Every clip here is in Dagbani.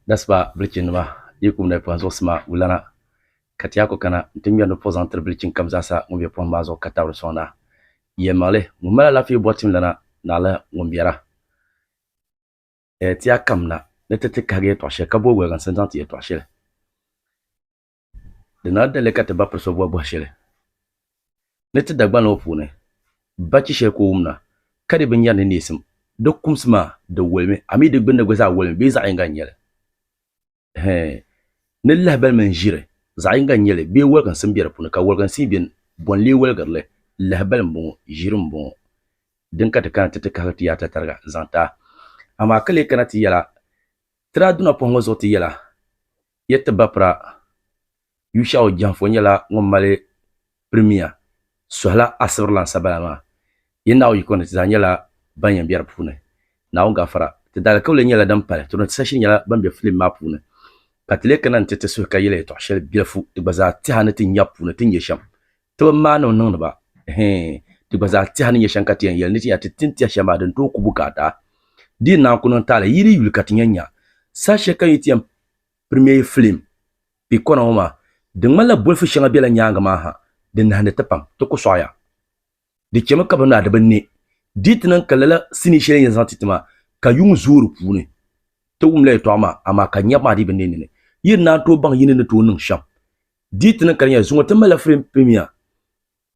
Dasiba bilichinima yi kum nayipuɣa zuɣusima wulana ka ti yaa ku kana nti ŋmɛri ni puɣu zaŋ tiri bilichin kam zaa sa ŋun be pɔhim maa zuɣu ka tabiri sɔŋ na. Yɛlimaŋli, ŋun mali alaafee bɔri timlana naɣila ŋun biɛra. Ti yaa kam na ni ti ti kahigi yɛtɔɣ shɛli ka booi woliginsi n-zaŋ ti yɛtɔɣ shɛli. Di na dali ka ti ba piri so bɔhi bɔhi shɛli ni ti Dagbani ŋɔ puuni, ba chi shɛli ka o wumda ka di bi nyari ni neesim. Di kumsi maa di wolimi, a mi di gbinni gba zaa wolimi bee zaɣ yiŋga n-nyɛ li? Hee, ni lahibali mini ʒiri zaɣ yiŋga n-nyɛ li bee woliginsim be di puuni? Ka woliginsim be ni, bɔ n-lee woligiri li? Lahibali m-bɔŋɔ, ʒiri m-bɔŋɔ. Din ka ti kana ti ti kahigi ti yaata tariga n-zaŋ ti a. Amaa ka lee kana ti yɛla, ti daa duna pɔhimma zuɣu ti yɛla, Yɛ ti bapira, Yushau Janfo nyɛla ŋun mali pirimiya suhila asibirilan sabaya maa. Yɛ Naawuni yiko ni ti zaa nyɛla ban yɛn be di puuni. Naawuni gafara. Ti daalikauli nyɛla din pali ti ni ti sashi nyɛla ban be filim maa puuni ka ti lee kana nti ti suhi ka yɛli yɛtɔɣ shɛli bilifu di gba zaa tɛha ni ti nya puuni ti ni nyɛ shɛm. Ti bi maani mi niŋdi ba hee di gba zaa tɛha ni nyɛ shɛm ka ti yɛn yɛli ni ti nya ti tin tɛha shɛli maa din tooi ku bukaata. Di yi naan ku niŋ taali yi di yuli ka ti nya nya saha shɛli ka yi ti yɛn pirimiɛi filim kpe kɔna ŋɔ maa. Di ŋmanila bolifu shɛŋa bela nyaaŋa maa ha din nahindi ti pam. Ti ku sɔɣiya. Di chemi ka bɛ naa di bi ne di yi ti niŋ ka lala sinii shɛli yɛn zaŋ ti ti maa ka yuŋ zooi di puuni. Ti wumla yɛtɔɣa maa amaa ka nyɛbu maa dii bi ne nini. Yi ni naan tooi baŋ yi ni ni tooi niŋ shɛm Di ti niŋ ka di nyɛla zuŋɔ ti malila frame pemia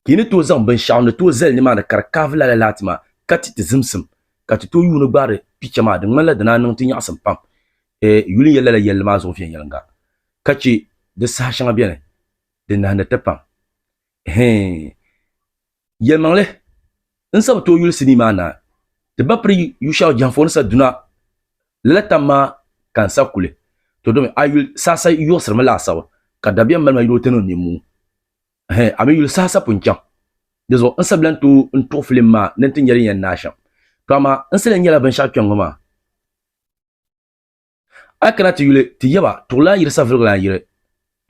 ka yi ni tooi zaŋ binshɛɣu ni tooi zali nimaani ka di kaavi lala laati maa ka ti ti zimsim ka ti tooi yuuni gbaari picha maa di ŋmanila di naa niŋ ti nyaɣisim pam eh yuli n-yɛli lala yɛlli maa zuɣu viɛnyɛliŋga ka che di saha shɛŋa beni din nahindi ti pam hee. Yɛlimaŋli, N sabi ti o yuli sinii maa naai, ti ba piri Yushau jɛhiŋfuɣu ni sa duna lala tam maa ka n sa kuli, to domi a yuli saha sa yiɣisirimi laasabu, ka dabiɛm mali ma yuli o tani o nimmuu. Hɛ, a mi yuli saha sa pun chaŋ. Di zuɣu n sa bilan tooi n tuɣi filim maa ni n ti nya din yɛn naai shɛm. To amaa n sa lee nyɛla binshɛɣu kpɛŋŋɔ maa. A kana ti yuli ti yaba tuɣilan yiri saviligilan yiri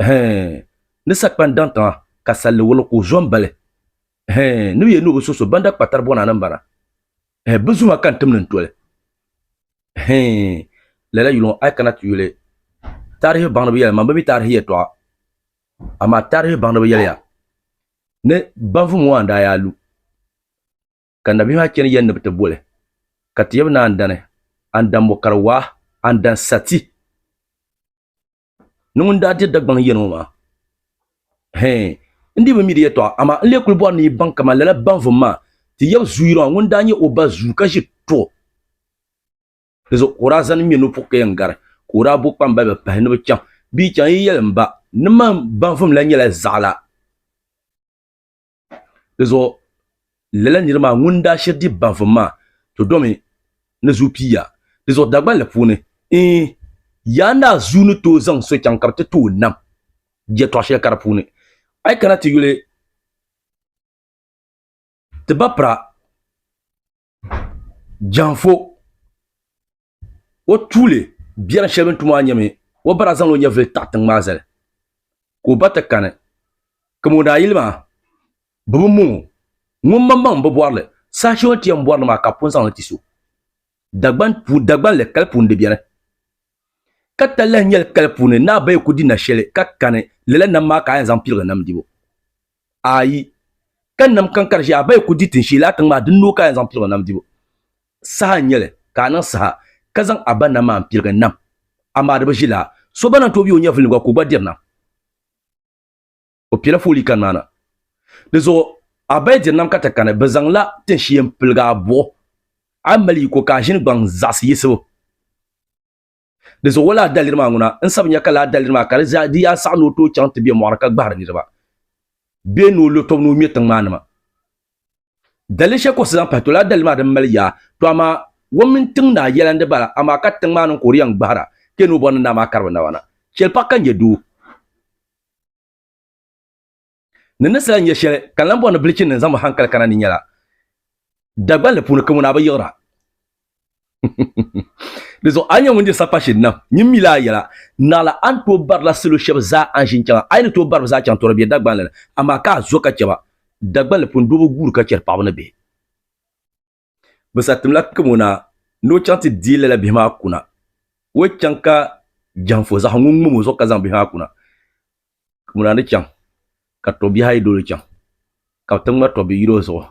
hɛɛn ni sakpan daŋ tiŋa ka salli wuliŋ ka o zo m-bali hɛɛn ni bɛ yɛli ni o bi so so ban da kpa tari bɔna ni m-bana hɛɛn bɛ zuma ka n tim ni n toli hɛɛn lala yuliŋɔ a kana ti yuli taarihi baŋdiba yɛli man bɛ mi taarihi yɛtɔɣa amaa taarihi baŋdiba yɛliya ni banvum ŋɔ a ni daa yaa lu ka nabihi maa chani yɛn ni bɛ ti boli, ka ti yɛbi ni a ni dani, a ni dan mɔkari waa, a ni dan sa ti ni ŋun daa diri Dagbaŋ yɛn ŋɔ maa. Hɛɛn! N dii bi mi di yɛtɔɣa, amaa n lee kul bɔri ni yi baŋ kaman lala baŋvum maa, ti yɛbi Zuuyira maa ŋun daa nyɛ o ba zuu ka ʒi tuo di zuɣu ka o daa zani ŋme ni o puhi ka yɛn gari, ka o daa bo kpambaliba pahi ni bɛ chaŋ. Bɛ yi chaŋ, yi yɛli m ba ni man baŋvum la nyɛla zaɣila. Di zuɣu lala nir maa ŋun daa shiri di baŋsim maa to domi ni zuu pii yaa. Di zuɣu Dagbanli puuni, Iin, Yaa Naa zuu ni tooi zaŋ so chaŋ ka bɛ ti ti o nam jɛtɔɣ shɛli kara puuni. A yi kana ti yuli ti ba pira. Janfo o tuuli biɛri shɛli bini tu maa nyɛmi o ba daa zaŋla o nyɛvuli taɣi tiŋ maa zali ka o ba ti kani ka o naayili maa bɛ bi mo o ŋun maŋmaŋ m-bi bɔri li saha shɛli o ni ti yɛn bɔri li maa ka bɛ pun zaŋ li ti so Dagban li kali puuni di beni ka talahi nyɛli kali puuni ni a ba yi kuli di nashɛli ka kani lala nam maa ka a yɛn zaŋ piligi nam dibu. Ayi. Ka nam kan ka di ʒiɛ, a ba yi ku di tin shee laa tiŋ maa, di noo ka a yɛn zaŋ pilig o nam dibu. Saha n-nyɛ li, ka a niŋ saha, ka zaŋ a ba nam maa m-piligi nam. Amaa di bi ʒi laa. So ba lan tooi be o nyɛvulini gba ka o gba diri nam, o piɛla foolii kani maa na. Dizuɣu a ba yi diri nam ka ti kani, bɛ zaŋla tin shee m-piligi a buɣu. A mali yiko ka a ʒini gbaŋ zaɣisi yisibu. Di zuɣu o laa daliri maa ŋuna n sabi nya ka laa daliri maa ka di zaa di yaa saɣi ni o tooi chaŋ ti be mɔɣiri ka gbahiri niriba bee ni o lo tɔbu ni o ŋme tiŋ maa nima. Daliri shɛli ka o si zaŋ pahi to laa daliri maa din mali yaa to amaa o mini tiŋ naa yɛla n di bala amaa ka tiŋ maa niŋ ka o di yɛn gbahira ka yɛn ni o bɔri ni naa maa kari bɛ naba na. Chɛli paɣa ka n nya doo. Ni ni saha nya shɛli ka n lan bɔri ni bilichini din zaŋ mi hankali kana ni nyɛla, Dagbanli puuni ka ŋuna bi yiɣira. Di zuɣu a ni nyɛ ŋun diri sapashiri nam, nyin mi lala yɛla, Naɣila a ni tooi barila salo shɛba zaa a ni ʒini chaŋa. A yi ni tooi bari bɛ zaa chaŋ tɔra bɛ Dagbanli ni, amaa ka a zo ka chɛ ba. Dagbanli puuni doo bi guuri ka chɛri paɣiba ni bihi. Bɛ satim la kim o na ni o chaŋ ti deei lala bihi maa kuna. O yi chaŋ ka jɛhiŋfo zaɣ ŋun ŋum o zuɣu ka zaŋ bihi maa kuna, kim o na ni chaŋ ka tɔbbihi ayi dol o chaŋ ka bɛ ti ŋma tɔbbi yil o zuɣu.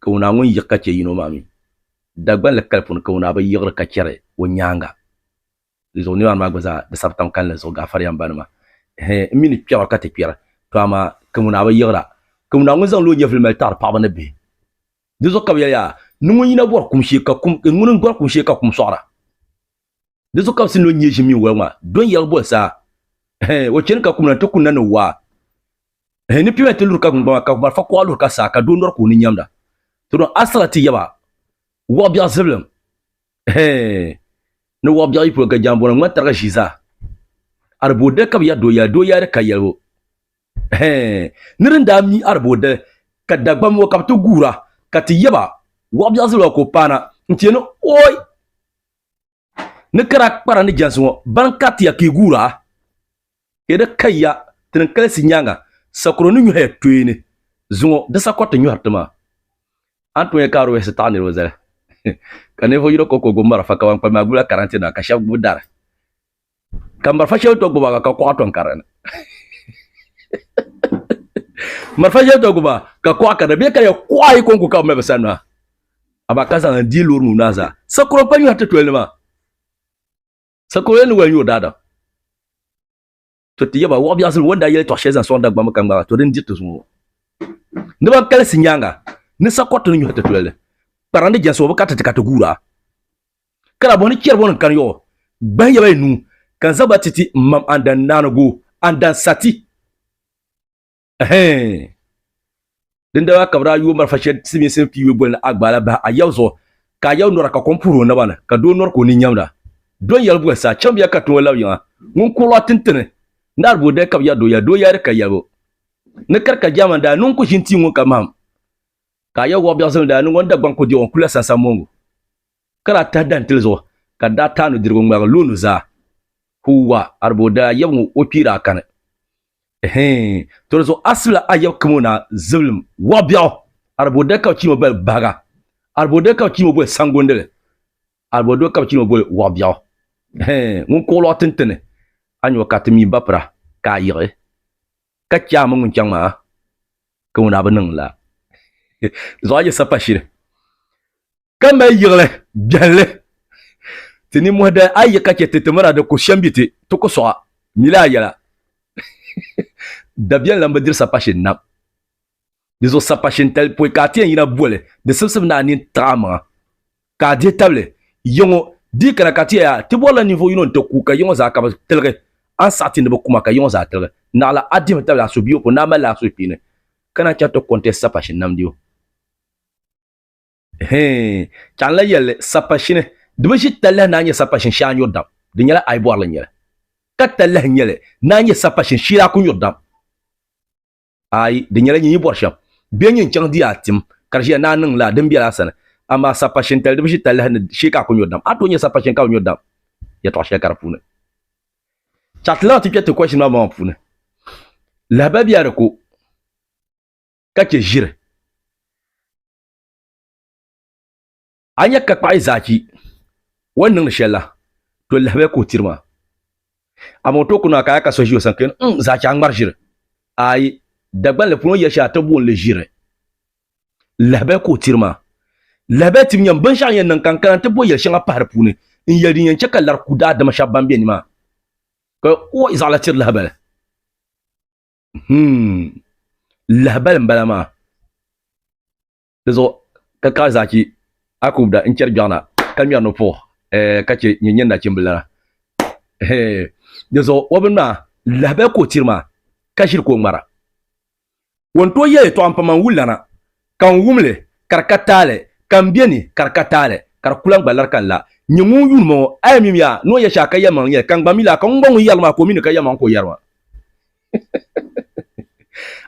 Kim o na ŋun yiɣi ka chɛ yino maa mi, Dagbanli kali puni kim o na bi yiɣiri ka chɛri o nyaaŋa. Di zuɣu nimaani maa gba zaa di sabi tiŋ kalinli zuɣu gaafariya m ba nima ehe m mi ni kpɛra ka ti kpɛri to amaa Kamunaa bi yiɣira Kamunaa ŋun zaŋla o nyɛvili mali taɣiri paɣaba ni bihi di zuɣu ka bi yɛli yaa ni ŋun yina bɔri kum shee ka kum e ŋuni n bɔri kum shee ka kum sɔɣira di zuɣu ka bi si ni o nyɛ ʒim mini waligu maa do n yɛligi boli saa ehe o chani ka kumna n ti kunna ni waa ehe ni piɛma ti luri ka gungbama ka malifa kuɣa luri ka saa ka doo nɔri ka o ni nyamda to dɔn asila ti yaba wɔɣ biɛɣu zibilim Hee, ni wɔɣ biɛɣu yi pun ga jambɔna ŋman tariga ʒii zaa, Aribodali ka bɛ yɛri dooyali, dooyali ka yɛlibu. Hee, ni di ni daa mi Aribodali, ka Dagbamba ŋɔ ka bɛ ti guura, ka ti yɛ ba, Wɔɣ biɛɣu zilima ka o paana, n-ti yɛn ni, Ɔɔi! Ni ka daa kpara ni jɛnsi ŋɔ, bani ka ti ya ka yi guura? Di ni ka ya ti ni kalisi nyaaŋa sakuro ni nyɔhi ya tooni zuŋɔ di sakɔri ti nyɔhiri ti maa. A ni tooi nya ka Aroyes taɣi niriba zali ka ninvuɣ yino ko ka o gbubi marafa ka ban kpalim maa gbubila karante nima ka shɛba gbubi dari ka marafa shɛli ti gbubi maa ka kuɣa tɔn ka di ni. Marafa shɛli ti gbubi maa ka kuɣa ka di ni. Bɛ ni ka ya kuɣa ayi kɔŋko ka bɛ mali bɛ sani maa amaa ka zaŋ n-dii loori nuu maa zaa. Sakuro n-kpalim nyɔhi ti tolini maa. Sakɔro yɛn ni wali nyɛ o daadam. To ti yaba, wɔɣ biɛɣusim wɔn daa yɛli tɔɣ shɛli zaŋ sɔŋ Dagbamba ka ŋmaag a to din diri ti zuŋɔ ŋɔ. Ni ban kalisi nyaaŋa, ni Sakɔriti ni nyɔhi ti tulali kparindi jɛnsi ŋɔ, bɛ kariti ti ka ti guur a. Ka daa bɔhi ni chɛri bɔ ni n kani yɔɣu gbahi yaba yi nuu ka n zaŋ ba ti ti m mam Andan Naanigu, Andan Sati. Ɛhɛɛn! Dindala ka bɛ daa yo marafa shɛli Silimiinsi piiwe boli ni Agbaala bahi Ayaw zuɣu, ka Ayaw nɔra ka kom puhiri o naba ni, ka doo nɔri ka o nini nyamda. Dɔn yɛli boli sa, Chɛmbiya ka tiŋa labi yiŋa, ŋun kurili a tintini, naari bo dali ka bɛ yɛri dooya, doo yaari ka yɛlibu ni kari ka Jaamani daa niŋ ku ʒini tia ŋun ka mahim, ka Ayaw wɔɣ biɛɣu zilimi daa niŋ o ni Dagbaŋ ku diɣi o n-kuli la sansammongu. ka daa tahi dantili zuɣu ka di daa taai nudirigu ŋmaligi lu o nuzaa. Huuwa, Ariboo daa yab ŋɔ o kpee daa kani. Ɛhɛɛn, to di zuɣu asibila a yab kamo naa zibilim wɔɣ biɛɣu. Ariboo dali ka bɛ chiimo boli bahiga. Ariboo dali ka bɛ chiimo boli saŋgondili. Ariboo dali ka bɛ chiimo boli wɔɣ biɛɣu. Ɛhɛɛn, ŋun kuɣi lɔɣu tinti ni a nyɔ ka ti mi bapira ka a yiɣi ka chɛ a mini ŋun chaŋ maa kamo naa bi niŋ la zuɣu a yi sapashili. ka mali yiɣili biɛhilli ti nimmohi dali a yi ka chɛ ti ti mira di ku shɛmbi ti, ti ku sɔɣa mili a yɛla. Dabiɛm lan bi diri sapashin nam. Di zuɣu sapashin tali pɔi ka a ti yɛn yina boli di sibisib ni a nini tiɣi a maŋa, ka a dihi tabili yiŋɔ. Di yi kana ka ti yɛli a, Ti bɔrila ninvuɣ yino n-ti ku ka yiŋɔ zaa ka bi tiligi, a ni saɣiti ni bi ku ma ka yiŋɔ zaa tiligi. Naɣila a dihimi tabili a suhuyubu pɔ ni a mali li a suhukpeeni, ka naan chaŋ ti kɔŋ ti sapashin namdibu. Hee, chaŋla yɛlli sapashini di bi ʒi talahi naan nyɛ sapashin shee a nyuri dam, di nyɛla ai bɔrili n-nyɛli, ka talahi nyɛli naan nyɛ sapashin shee a ku nyuri dam. Ai, di nyɛla nyin yi bɔri shɛm, bɛ nyin chaŋ di a tim, ka di ʒiya ni a niŋ laa, din bela a sani, amaa sapashintali di bi ʒi talahi ni shee ka a ku nyuri dam, a tooi nyɛ sapashin ka bi nyuri dam yɛtɔɣ shɛli ka di puuni. Chati lahi ti kpe ti question maa maŋmaŋ puuni, lahabaya bɛ a di ku ka chɛ ʒiri. a nya ka kpaɣi zaaki o ni niŋdi shɛli la to lahabaya ka o tiri ma amaa o tooi ku naa ka a ka so ʒi o sani ka yɛli n zaaki a ŋmari ʒiri ayi Dagbanli puuni o ni yɛli shɛli a ti booni li ʒiri lahabaya ka o tiri ma lahabaya tibu nyɛm binshɛɣu n yɛn niŋ ka n kana n ti bo yɛli shɛŋa pahi di puuni n yɛli din yɛn chɛ ka lari ku daadama shɛba ban be ni maa ka o zaɣila tiri lahabali. lahabali n bala maa di zuɣu ka kaai zachi a ku da n chɛri gbɛɣuna ka ŋmɛri ni puɣu ka chɛ nyɛ nyɛ nachimbili lana di zuɣu o bini maa lahabali ka o tiri maa ka ʒiri ka o ŋmara o ni tooi yɛli yɛltɔɣa n pa man wulilana Ka n wum li, ka di ka taali, ka m be ni, ka di ka taali, ka di ku lan gba lari ka n la. N nye ŋun yuun ma ŋɔ, a yɛn mim ya, ni o yɛ shɛha ka yɛlimaŋli nyɛ li, ka n gba mi li a, ka ŋun gba ŋun yɛri li maa ka o mi ni ka yɛlimaŋli ka o yɛri ma.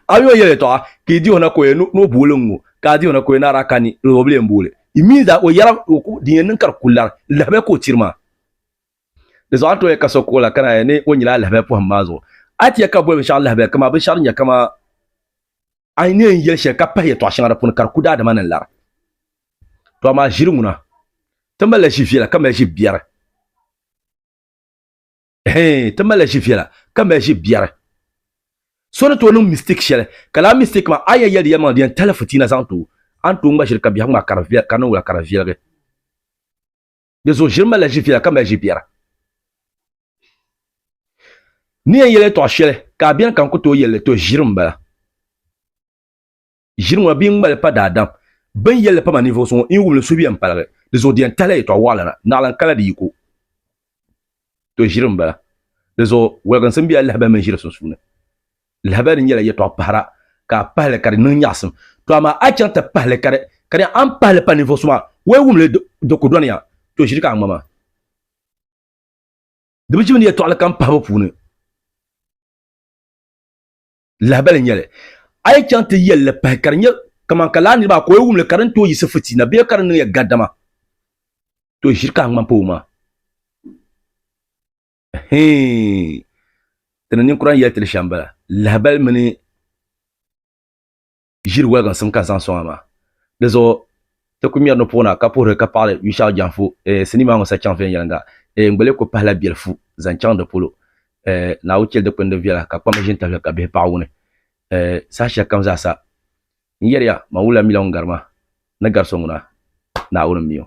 A mi o yɛli yɛtɔɣa, ka yi di o na ka o yɛli ni o booli n ŋɔ, ka a di o na ka o yɛli ni a daa kani, di o bi lee m-booli. Yi mi zaa, o yɛra o ko din yɛn niŋ ka di ku lari, lahabaya ka o tiri ma. Di zuɣu a ni tooi yɛli ka so ka o la ka naai ni o nyila a lahabaya pɔhim maa zuɣu. A ti yɛli ka boli binshɛɣu lahabaya, kaman binshɛɣu din nyɛ kaman. a yi ni yɛn yɛli shɛli ka pahi yɛtɔɣ shɛŋa di puuni ka di ku daadama ni lara. To amaa ʒiri ŋuna, ti malila ʒi viɛla ka mali ʒi biɛri. Hee, ti malila ʒi viɛla ka mali ʒi biɛri. So ni tooi niŋ mistake shɛli, ka lala mistake maa a ni yɛn yɛli di yɛlimaŋli di yɛn tali fitiina zaŋ ti o, a ni tooi ŋma ʒiri ka biɛhigu maa ka di viɛl, ka niŋ wula ka di viɛligi. Di zuɣu ʒiri malila ʒifiɛla ka mali ʒibiɛra. Ni yɛn yɛli yɛltɔɣa shɛli ka a bɛni ka n ku tooi yɛli li, to ʒiri m-bala. Ʒiri ŋɔ na bɛ yi ŋma li pa daadam, bɛ ni yɛli li pa ma ninvuɣu so ŋɔ, n yi wum li suhu yɛn paligi. Di zuɣu di yɛn tahila yɛltɔɣa waɣila na, naɣilim kala di yiko. To ʒiri m-bala. Di zuɣu waliginsi m-be a lahabali mini ʒiri sunsuuni. Lahabali nyɛla yɛtɔɣ pahira ka a pahi li ka di niŋ nyaɣisim. Tɔ amaa a chaŋ ti pahi li ka di ka di a ni pahi li pa ninvuɣ so maa, o yi wum li di ku dɔni ya. Tɔ ʒiri ka a ŋmama. Di bi ʒimi ni yɛtɔɣili kam pahibu puuni. Lahabali nyɛ li, a yi chaŋ ti yɛl li pahi ka di nyɛ kaman ka laa nir maa ka o yi wum li ka di ni tooi yiɣisi fitiina bee ka di niŋ ya gaddama, tɔ ʒiri ka a ŋmam pa o maŋa. Hee! Ti ni ninkura ni yɛli ti ni shɛm bala, lahibali mini ʒiri waliginsim ka n zaŋ sɔŋ a maa. Di zuɣu ti ku ŋmɛri ni puɣ na ka puhiri ka paɣili Yushɛɣu Jɛnfu eh, sinii maa ŋɔ sa chaŋ viɛnyɛliŋga eh, n gba lee ku pahila biɛlifu zaŋ chaŋ di polo eh, Naawuni chɛli dikpini din viɛla ka kpamba ʒini tahili ka bihi paɣ wuni eh, saha shɛli kam zaa sa. N yɛri ya, man wula mi la ŋun gari ma ni gari so ŋuna, Naawuni m-mi o.